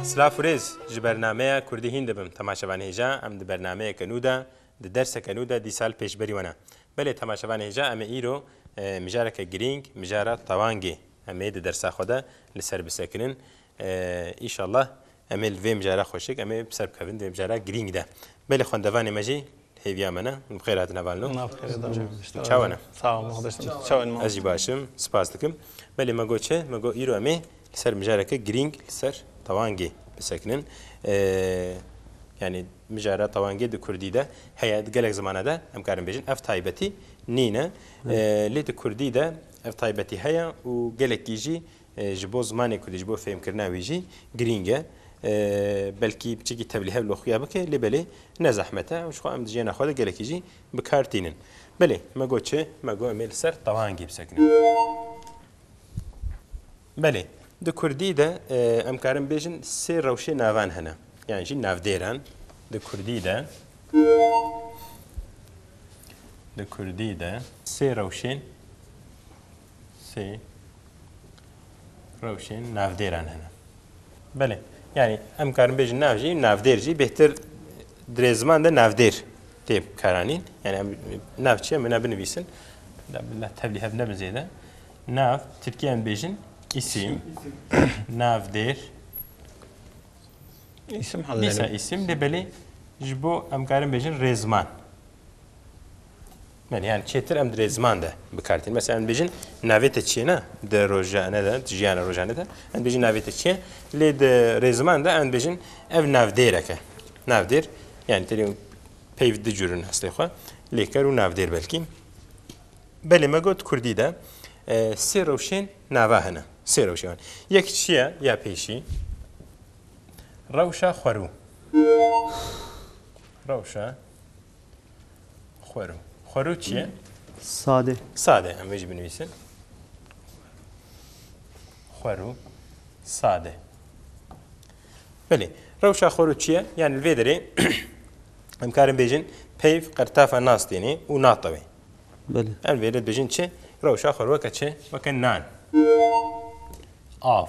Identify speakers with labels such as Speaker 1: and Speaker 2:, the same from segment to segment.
Speaker 1: Silav û rêz ji bernameya Kurdî hîn dibim temaşevan hêja em di bernameyeke nû de di derseke nû de dîsal pêş berî we ne. Belê temaşevan hêja em ê îro mijareke girîng mijara tewangê em ê di dersa xwe de li ser bisekinin. Îşallah em ê li vê mijara xweşik em ê bi ser bikevin di vê mijara girîng de. Belê xwendevanê me jî Hêviya me ne. Bi xêr hatin hevalino. Çawa ne? Ez jî başim. Spas dikim. Belê me got çi? Me got îro em ê li ser mijareke girîng li ser tewangê bisekinin. Yanî mijara tewangê di kurdî de heye, di gelek zimana de em karin bêjin ev taybetî nîne. Lê di kurdî de ev taybetî heye û gelekî jî Ji bo zimanê kurdî, ji bo fêhmkirina wî jî girîng e. Belkî biçekî tevlî hev li xuya bike lê belê ne zehmet e û ji xwe em di jiyana xwe de gelekî jî bi kar tînin. Belê me got çi? Me got em ê li ser tewangî bisekinin. Belê di kurdî de em karin bêjin sê rewşê navan hene yan jî navdêran di kurdî de di kurdî de sê rewşên sê rewşên navdêran hene. Belê. Yani em karin bêjin nav jî navdêr jî bêhtir dirê ziman de navdêr tê karanîn. Yani em nav çi em ne binivîsin. Tevlî hev nebin zêde. Nav Tirkiye em bêjin isim. Navdêr. İsim halleri. Dîsa isim de belê ji bo em karin bêjin rêzman. Yani yani çêtir em dirê ziman de bikartîn. Mesela em dibêjin navê te çi ye ne? Di rojane de, di jiyana rojane de em dibêjin navê te çi ye? Lê di rêziman de em dibêjin ev navdêrek e. Navdêr yani terî peyv di cûrin eslê xwe lêker û navdêr belkî. Belê me got Kurdî de sê rewşên nava hene. Sê rewşê wan. Yek çi ye ya pêşî? Rewşa xwerû. Rewşa Xwero. Xwero çi ye? Sade. Sade. Em vê jî binivîsin. Xwero. Sade. Belê. Rewşa xwero çi ye? Yani li vê derê em karin bêjin peyv qertafa nas tênê û natewê. Belê. Em vê li bêjin çi? Rewşa xwero weke çi? Weke nan. Av.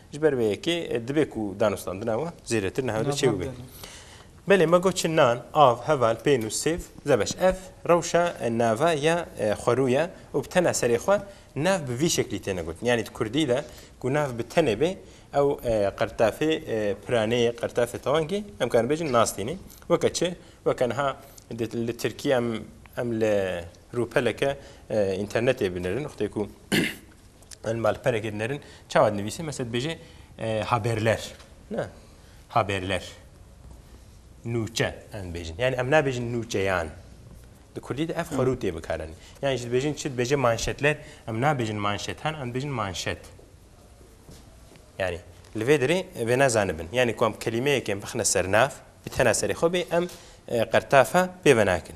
Speaker 1: Ji ber vê yekê dibe ku danûstandina wan zêdetir niha wê çêw be. Belê me got çi nan, av, heval, pênûs, sêv, zebeş. Ev rewşa nava ya xwerû ye û bi tena serê xwe nav bi vî şeklî têne gotin. Yanî di kurdî de ku nav bi tenê bê ew qirtafê piraneyê, qirtafê tewangê em karin bêjin nas tîne. Weke çi? Weke niha li Tirkî em li rûpeleke înternetê binirin, rûxtê ku Em li malperekê dinerin çawa dinivîsê mesela dibêje haberler ne haberler nûçe em dibêjin yani em nabêjin nûçeyan di kurdî de ev xwerû tê bikarin yani ji dibêjin çi dibêje manşetler em nabêjin manşetan em dibêjin manşet yani li vê derê vê nezanibin yani ku em kelimeyekên bixine sernav bi tena serê xwe bê em qertafa pê venakin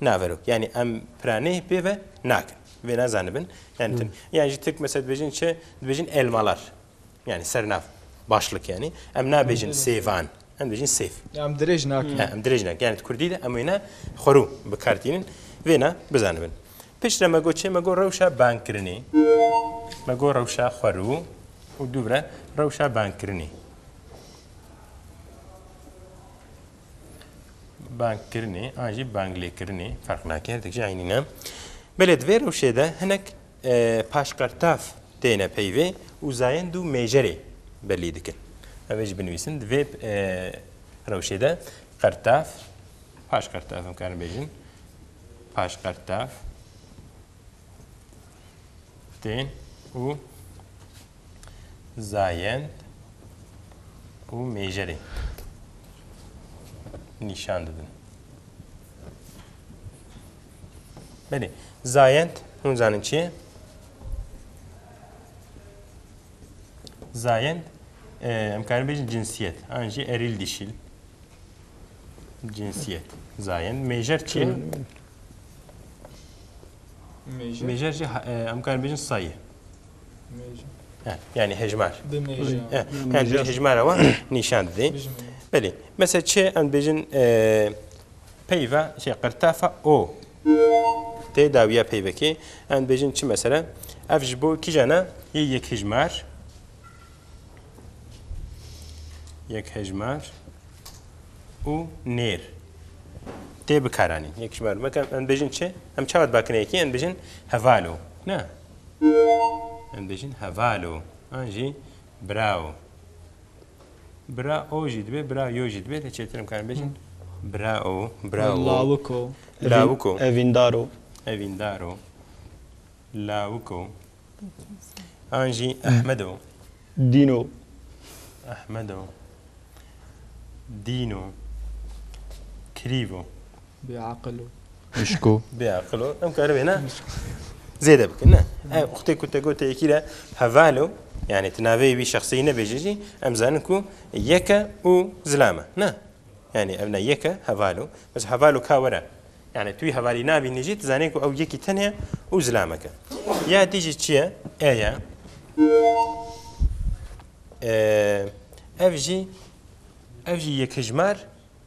Speaker 1: Naverok. Yanî em piranî pê ve nakin. Vê ne zanibin. Yanî tim. Yan jî tirk mesela dibêjin çi? Dibêjin elmalar. Yanî sernav. Başlik yanî. Em nabêjin sêvan. Em dibêjin sêv. Em dirêj nakin. Em dirêj nakin. Yanî di kurdî de em wê ne xwerû bi kar tînin. Vê ne bizanibin. Pişt re me got çi? Me got rewşa bankirinê. Me got rewşa xwerû û dû re rewşa bankirinê. Bangkirinê an jî banglêkirinê ferq nake her dikî eynî ne. Belê di vê rewşê de hinek paşqertaf têne peyvê û zayend û mêjerê belî dikin. Ev ê jî binivîsin di vê rewşê de qertaf paşqertaf em karin bêjin paşqertaf tên û zayend û mêjerê nîşan didin. Belê, zayend hûn zanin çi ye? Zayend em karin bêjin cinsiyet an jî erîl dişîl. Cinsiyet zayend mêjer çi ye? Mêjer jî em karin bêjin sayê. Yani hejmar. Yani dê hejmara wan nîşan didê. Belê. Mesela çi em bêjin peyva şey qirtafa o. Tê dawiya peyvekê em bêjin çi mesela ev ji bo kîjana yê yek hejmar. Yek hejmar û nêr. Tê bikaranîn. Yek hejmar mekem em bêjin çi? Em çawa bakine yekî em bêjin hevalo. Ne? Em dibêjin hevalo an jî birao. Birao jî dibe, birayo jî dibe lê çêtir em karin bêjin birao, birawo. Lawik o. Lawik o. Evîndar o. Evîndar o. Lawik o. An jî Ehmed o. Dîn o. Ehmed o. Dîn o. Kirîv o. Bê aqil o. Hişk o. Bê aqil o. Em karibê ne? Zêde bikin ne. E uxtê ku te gote yekî re heval o. Yani ti navê wî şexsî nebêjî jî em zanin ku yeke û zilam e. Ne? Yani ev ne yeke heval o. Bes heval û ka were. Yani tu wî hevalî nabînî jî tu zanî ku ew yekî tenê ye û zilamek e. Ya dî jî çi ye? E ye. Ev jî ev jî yekhijmar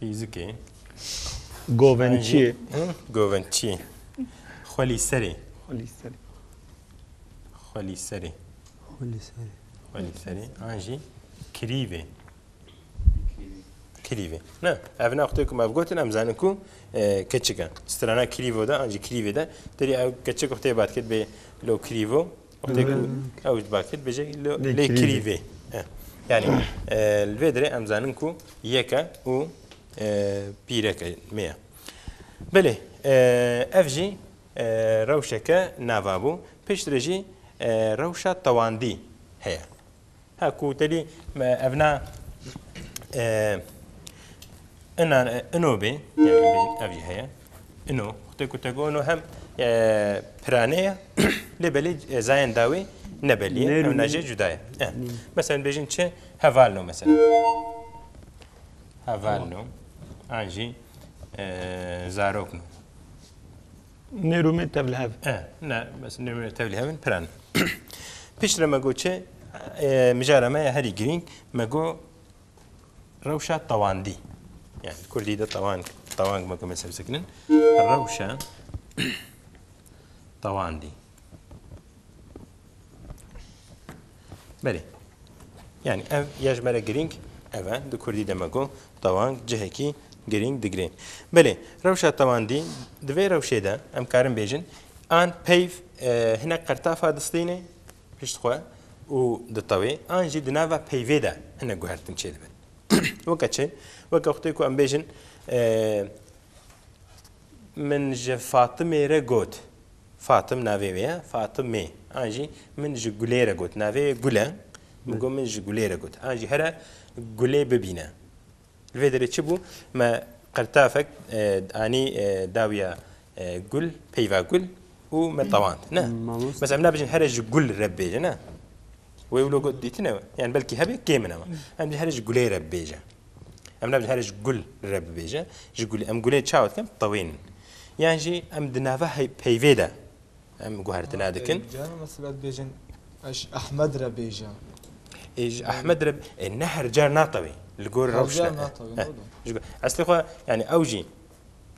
Speaker 1: Fîzikê. Govençiyê. Govençiyê. Xwelîserê. Xwelîserê. Xwelîserê. Xwelîserê. Xwelîserê. An jî kirîvê. Kirîvê. Ne, ev ne xutê ku me gotin em zanin ku e, keçik e. Strana kirîvo de, an jî kirîvê de, derî ew keçik xutê bat kir bê lo kirîvo. Wextê ku ew ji bakê dibêje lê kirî vê. Yanî li vê dirê em zanin ku yeke û pîreke me ye. Belê ev jî rewşeke nava bû. Piştre jî rewşa tewandî heye. Ha ku tedî evna ina ino bê ev jî heye ino xte ku te go ino hem pirane ye lê belê zayên dawê nebelî ev najê cuda ye mesela bêjin çi hevalno mesela hevalno an jî zarokno Nêrûmê tevlihev. E, ne, mes nêrûmê tevlihev in, piran. Pişt re me got çi, e, mijara me ya herî girîng, me got rewşa tewandî. Yani Kurdî de tewang, tewang me got me sebsekinin. Rewşa tewandî. Belê. Yani ev ya ji me re girîng ev e. Di kurdî de me got tewang cihekî girîng digire. Belê rewşa tewandî di vê rewşê de em karin bêjin an peyv hinek qertafa distînê pişt xwe û ditewê an jî di nava peyvê de hinek guhertin çêdibin. Weke çi? Weke xutê ku em bêjin min ji Fatimê re got. Fatim navê wê ye, Fatime. An jî min ji gulê re got. Navê wê gul e. Min got min ji gulê re got. An jî here gulê bibîne. Li vê derê çi bû? Me qirtafek anî dawiya gul, peyva gul û me tewand. Ne? Mesela em nabêjin here ji gul re bibêje ne? Wê wilo got dîtine? Yan belkî hebe kêm in ema. Em bêjin here ji gulê re bibêje. Em nabêjin here ji gul re bibêje, ji gulê. Em gulê çawa dikin? Tewênin. Yan jî em di nava peyvê de em guhertina dikin. Canan mesela dibêjin eş Ehmed re bêje. Ê ji Ehmed re ê ne her car natewê. Li gor rewşna. Eslê xwe yani ew jî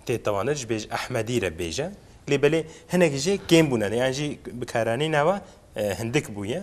Speaker 1: tê tewanir ji bêj Ehmedî re bêje. Lê belê hinek jê kêm bûne. Yan jî bikaranî nava hindik bûye.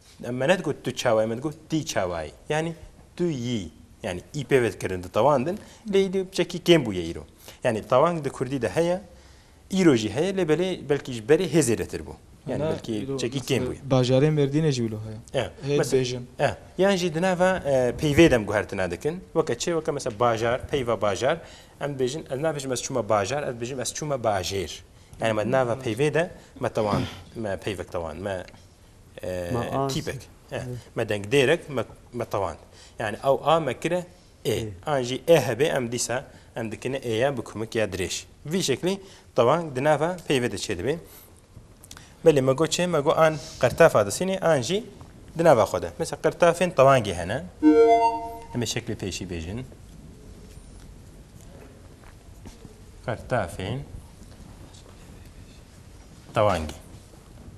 Speaker 1: Em me nedigôt tu çawa yî, me digôt tî çawa yî. Yanî tu yî. Yanî î pêvê dikirin di tawan din. Lê î di çekî kêm bûye îro. Yanî tawang di kurdî de heye, îro jî heye lê belê belkî ji berê hê zêdetir bû. Yanî belkî çekî kêm bûye. Bajarê Mêrdînê jî wilo heye. E. Hê dibêjin. E. Yan jî di nava peyvê de em guhertina dikin. Weke çi? Weke mesela bajar, peyva bajar. Em dibêjin ez nabêjim ez çûme bajar, ez dibêjim ez çûme bajêr. Yanî me di nava peyvê de me tawan, me peyvek tawan, me Me as. Tîpek. E. Me dengdêrek me me tewand. Yani ew a me kire ê. An jî ê hebê em dîsa em dikine êya bi kumik ya dirêj. Vî şeklî tewang di nava peyvê de çêdibê. Belê me got çê? Me got an qirtafa disînê an jî di nava xwe de. Misa qirtafên tewangê hene. Em ê şeklê pêşî bêjin. Qirtafên tewangê.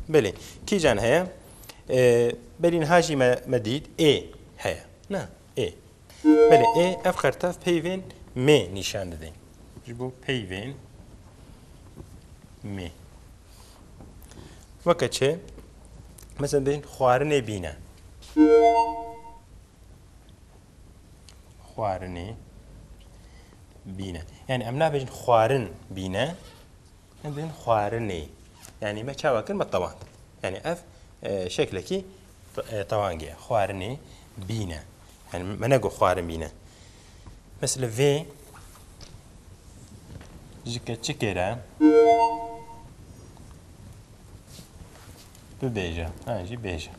Speaker 1: Belê. Kîjan heye? Belîn ha jî me dît ê heye. Na ê. Belê ê ev xertev peyvên mê nîşan didin. Ji bo peyvên mê. Weke çi? Mesela bêjin xwarinê bîne. Xwarinê bîne. Yani em nabêjin xwarin bîne. Hindên xwarinê. Yani me çawa kir me tewand. Yani ev şeklekî tewangê ye. Xwarinê bîne. Yani me nego xwarin bîne. Mesela vê ji keçikê re bibêje. Ha jî bêje.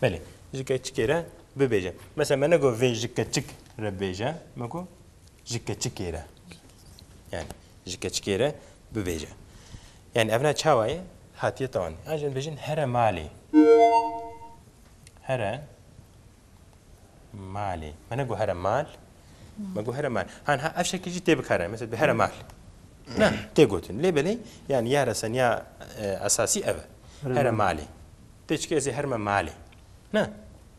Speaker 1: Belê. Ji keçikê re bibêje. Mesela me nego vê ji keçik re bêje. Me got Ji keçikê re. Yani ji keçikê re bibêje. Yani evna çawa ye? Hatiye tawan. Yan jin bêjin here malê. Here malê. Me ne got here mal. Me got here mal. Han ha ev şekil jî tê bikarin. Mesela bi here mal. Ne, tê gotin. Lê belê yani ya reseniya e, esasî ev e. Here malê. Tê çike ez ê her me malê. Ne?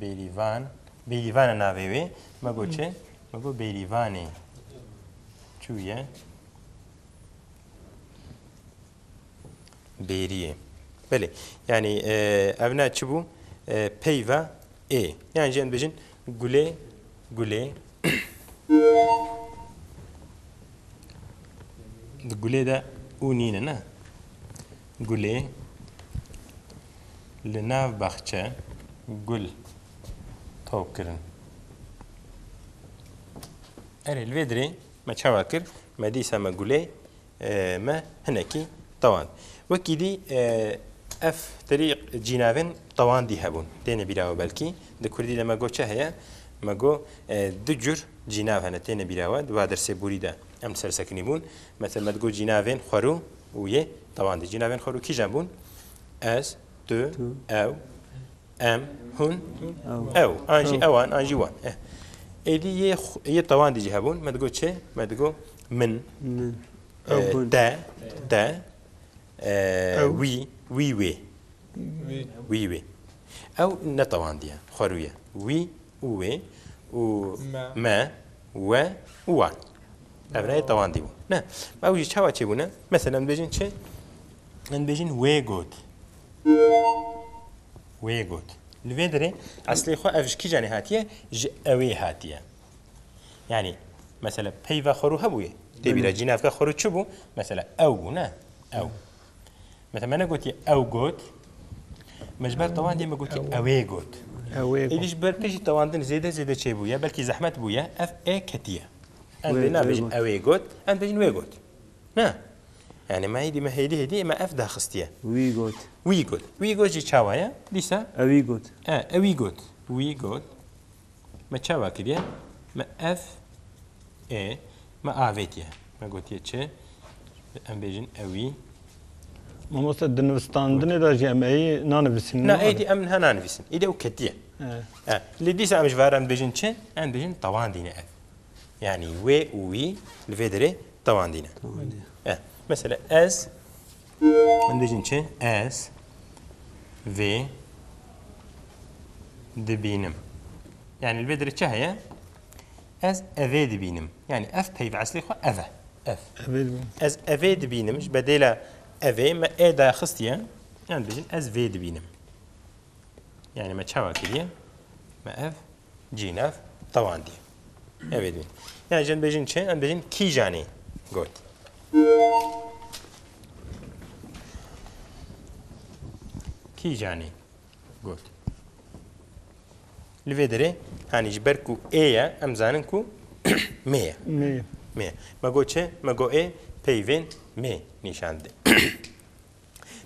Speaker 1: Bêrîvan, Bêrîvan e navê wê. Me got çi? Me got Bêrîvanê çûye bêriyê. Belê. Yanî e, ev ne çi bû? E, peyva ê. Yan jî em dibêjin gulê gulê. Di gulê de û nîne ne. Gulê li nav baxçe. Gul tok kirin. Erê li vê dirê me çawa kir? Me dîsa me gulê me hinekî tewand. Wekî dî ev terî cînavên tewandî hebûn. Têne bîra we belkî. Di kurdî de me got çi heye? Me got du cur cînav hene têne bîra we. Di va dersê borî de em li ser sekinî bûn. Me te met got cînavên xwerû û yê dewandê. Cînavên xwerû kîjan bûn? Ez, tu, ew, em, hûn, ew. An jî ewan, an jî wan. Eh. Êdî yê yê dewandê jî hebûn. Me digot çi? Me digot min, te, te, wî, wî wê. Wî wê. Ew ne dewandiye, xwerû ye. Wî û wê û me, we û wan. Ev reyê tewandî bû. Ne, ew jî çawa çêbûne? Mesela em dibêjin çi? Em dibêjin wê got. Wê got. Li vê derê eslê xwe ev ji kîjanê hatiye? Ji ewê hatiye. Yanî mesela peyva xwe rû hebûye. Tê bîra cî navka xwe rû çi bû? Mesela ew bû ne? Ew. Me te me negotî ew got. Me ji ber tewandê me gotî ewê got. Ewê got. Êdî ji ber te jî tewandin zêde zêde çêbûye, belkî zehmet bûye, ev ê ketiye. Em dê nabêjin ewê got, em dibêjin wê got. Na. Yanî me êdî me hêdî hêdî me ev daxistiye. Wî got. Wî got. Wî got jî çawa ye? Dîsa. Ewî got. E, ewî got. Wî got. Me çawa kiriye? Me ev ê me avêtiye. Me gotiye çi? Em bêjin ewî. Mamoste di nivistandinê de jî em ey nanivîsîn. Na ey dî em niha nanivîsin. Îde û ketiye. Lê dîsa em ji ve re em dibêjin çi? Em dibêjin tewandîne ev. Yanî wê û wî li vê derê tewandîne. Mesela ez. Em dibêjin çi? Ez vê dibînim. Yani li vê derê çi heye? Ez evê dibînim. Yani ev peyv eslê xwe ev e. Ev. Ez evê dibînim ji bedêla evê me ê daya xistiye. Yani dibêjin ez vê dibînim. Yani me çawa kiriye? Me ev Cînev tewandî. Ev ê bîn. Yanî ji bêjin çi? Em bêjin kîjanî got. Kîjanî got. Li vê derê hanî ji ber ku ê ye em zanin ku mê ye. Mê ye. Mê. Me got çi? Me got ê peyvên mê nîşan dide.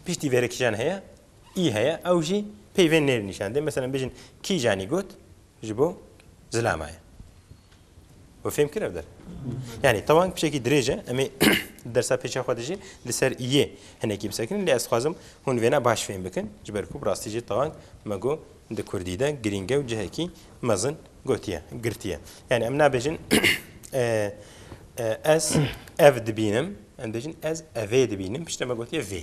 Speaker 1: Piştî vêrekîjan heye? î heye ew jî peyvên nêr nîşan dê. Meselem bêjin kîjanî got ji bo zilama ye. We fêm kir ev der. Yanî tewang pişekî dirêj e em ê dersa pêça xwe dijî li ser yê hinekî bisekirin lê ez dixwazim hûn vêna baş fêm bikin ji ber ku bi rastî jî tewang me got di kurdî de girînge û cihekî mezin gotiye girtiye. Yanî em nabêjin ez ev dibînim em dêjin ez evê dibînim piştre me gotiye vê.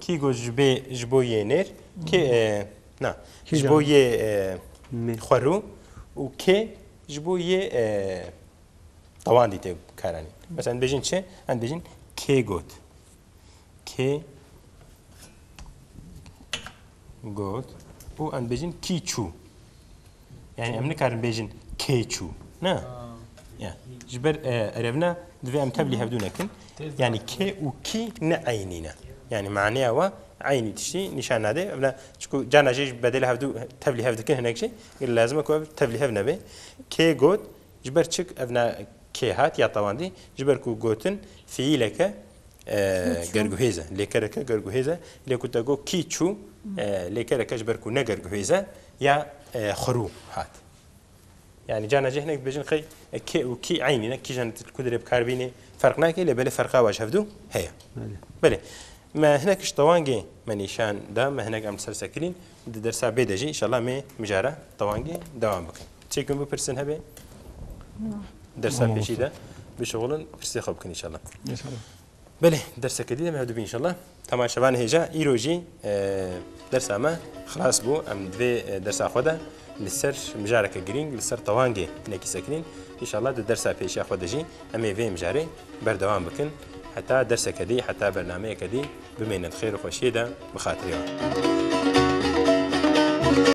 Speaker 1: Kî got ji bê ji bo yê nêr kê na ji bo yê xwe rû û kê ji bo yê tewandî tê karanîn. Mesela dibêjin çi? Em dibêjin kê got. Kê got û em dibêjin kî çû. Yani em nikarin bêjin kê çû. Ne. Ya. Ji ber erevna divê em tevlî hevdû nekin. Yani kê û kî ne eynî ne. Yani maneya wa eynî tiştî nîşan nade. Evla çku cana jê ji bedêl hevdû tevlî hev dikin hinek jî gel lazim e ku ev tevlî hev nebe. Kê got ji ber çik evna kê hat ya tewandî ji ber ku gotin fiîleke Gerguhêz e. Lêkereke gerguhêz e. Lê ku te got kî çû, lêkereke ji ber ku ne gerguhêz e ya xurû hat. Yanî carna cih hinek dibêjin qey kê û kî eynî ne, kîjan tu ku dirê bikar bînî ferq nake lê belê ferqa wa ji hev dû heye. Belê. Me hinek ji tewangê me nîşan da, me hinek em li ser sekilîn. Di dersa bê de jî înşallah mê mijara tewangî dewam bikin. Çê kin bipirsin hebê? Na. Dersa pêşî de bişixulin pirsê xwe bikin înşallah. Belê derseke dî de me hevdibî înşallah. Hema şevan hêja îro jî dersa me xilas bû. Em divê dersa xwe de li ser mijareke girîng li ser tewangê hinekî sekirîn. Înşallah di dersa pêşiya xwe de jî em ê vê mijarê berdewam bikin. Heta derseke dî, heta bernameyeke dî Bimêne di xêr û xweşiyê de bi xatirê wan.